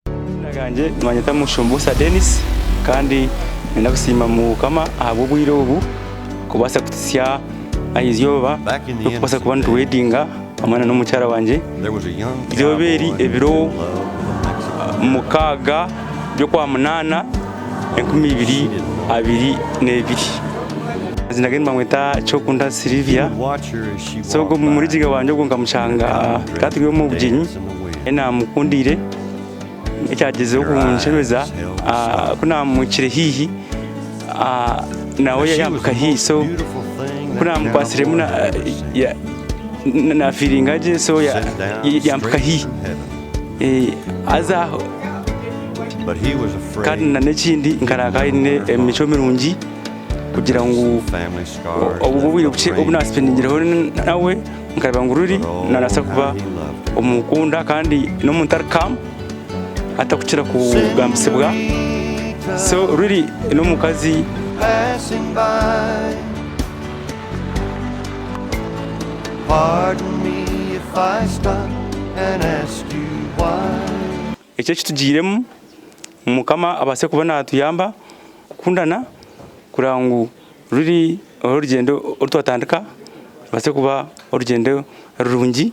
Amazina gangye nibanyeta Mushombosa Denis kandi ninyenda kusiima Mukama ahabw'obwire obu kubaasa kutsya aha eizooba ry'okubaasa kuba nituwedinga hamwe na n'omukyara wangye. Eizooba eri ebiro mukaaga by'okwa munaana enkumi ibiri abiri n'ebiri. Amazina ge nibamweta Kyokunda Sylivia so ogu omurigiga wangye ogu nkamushanga tata ori omu bugyenyi. Naamukundiire ekyagyezeho kunkyebeza ku naamwicire haihi nawe yampika haihi so ku naamukwatsiremu naafiiringa gye so yampika haihi haza aho kandi n'ekindi nkaraara nyine emicwe mirungi kugira ngu obwo obwire bukye obu naaspendiingireho nawe Nkareeba ngu Lily nabaasa kuba omukunda kandi n'omuntu ari calm atarikukira kugambisibwa. So Lily n'omukazi Eki ekitugiiremu ngu Mukama abaase kuba naatuyamba kukundana kureba ngu ruri orugyendo oru twatandika rubaase kuba orugyendo rurungi.